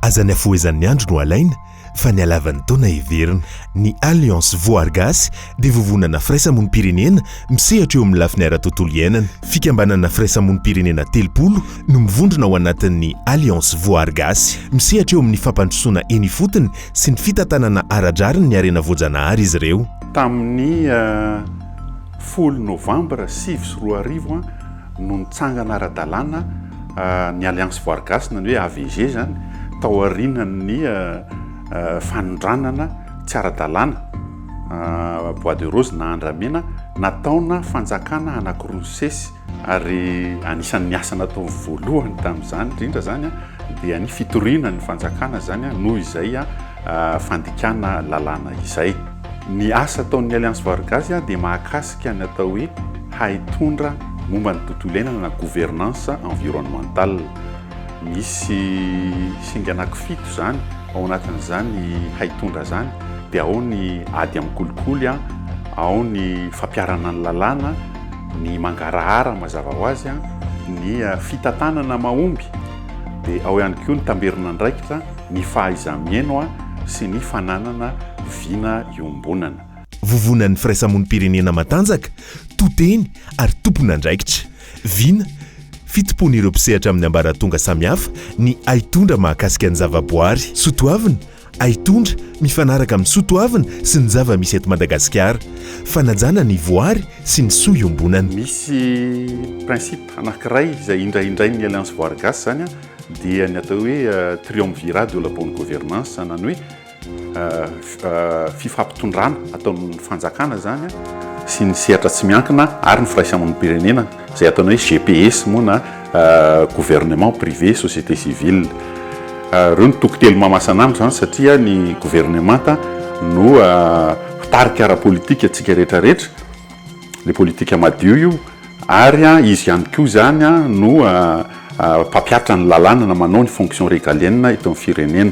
Aza ny hafohezan'ny andro no alaina fa ny halavan'ny taona heverina. Ny Alliance Voar Gasy dia vovonana firaisamonim-pirenena misehatra eo amin'ny lafiny ara-tontolo iainana. Fikambanana firaisamonim-pirenena telopolo no mivondrona ao anatin'ny Alliance Voar Gasy. Misehatra eo amin'ny fampandrosoana eny ifotony sy ny fitantanana ara-drariny ny harena voajanahary izy ireo. Tamin'ny folo Novambra sivy sy roa arivo, no nitsangana ara-dalàna ny Alliance Voary Gasy na ny hoe AVG izany tao aorianan'ny fanondranana tsy ara-dalàna, bois de rose na andramena, nataona fanjakana anankiroa nisesy. Ary anisan'ny asa natao voalohany tamin'izany indrindra izany dia ny fitoriana ny fanjakana izany noho izay fandikana lalàna izay. Ny asa ataon'ny Alliance Voary Gasy dia mahakasika. Resaka ny atao hoe haitondra momba ny tontolo iainana na gouvernance environnementale. Misy singa anankifito izany, ao anatin'izany haitondra izany, dia ao ny ady amin'ny kolikoly, ao ny fampiharana ny lalàna, ny mangarahara mazava ho azy, ny fitantanana mahomby, dia ao ihany koa ny tamberin'andraikitra, ny fahaiza-mihaino sy ny fananana vina iombonana. Vovonan'ny firaisamonim-pirenena matanjaka, to teny ary tompon'andraikitra. Vina, Fitompoan'ireo mpisehatra amin'ny ambaratonga samihafa ny haitondra mahakasika ny zavaboary. Soatoavina, Haitondra mifanaraka amin'ny soatoavina sy ny zava-misy eto Madagasikara. Fanajana ny voary sy ny soa iombonana. Misy principe anankiray izay indraindrain'ny Alliance Voary Gasy izany dia ny atao hoe triumvirat de la bonne gouvernance, izany hoe, fifampitondrana ataon'ny fanjakana izany sy ny sehatra tsy miankina ary ny firaisamonim-pirenena izay ataony hoe GPS moa na gouvernement privé société civile. Ireo no toko telo mahamasana amiko izany satria ny governemanta no mpitarika ara-politika antsika rehetra rehetra, ilay politika madio io ary izy ihany koa izany no mpampiatra ny lalàna na manao ny fonction régalienne eto amin'ny firenena.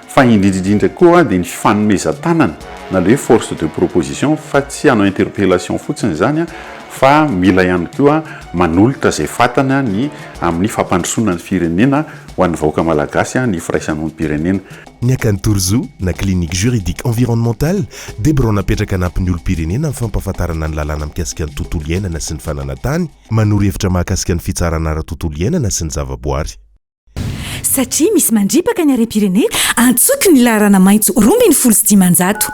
Fa indrindra indrindra koa dia ny fanomezan-tanana na ilay hoe force de proposition fa tsy hanao interpellation fotsiny izany fa mila ihany koa manolotra izay fatana ny amin'ny fampandrosoana ny firenena ho an'ny vahoaka malagasy ny firaisamonim-pirenena. Ny Akany Torzo na Clinique Juridique Environnementale dia birao napetraka hanampy ny olom-pirenena amin'ny fampahafantarana ny lalàna mikasika ny tontolo iainana sy ny fananan-tany, manoro hevitra mahakasika ny fitsarana ara-tontolo iainana sy ny zavaboary. Satria misy mandripaka ny harem-pirenena, antsoiko ny laharana maitso roa ambin'ny folo sy dimanjato.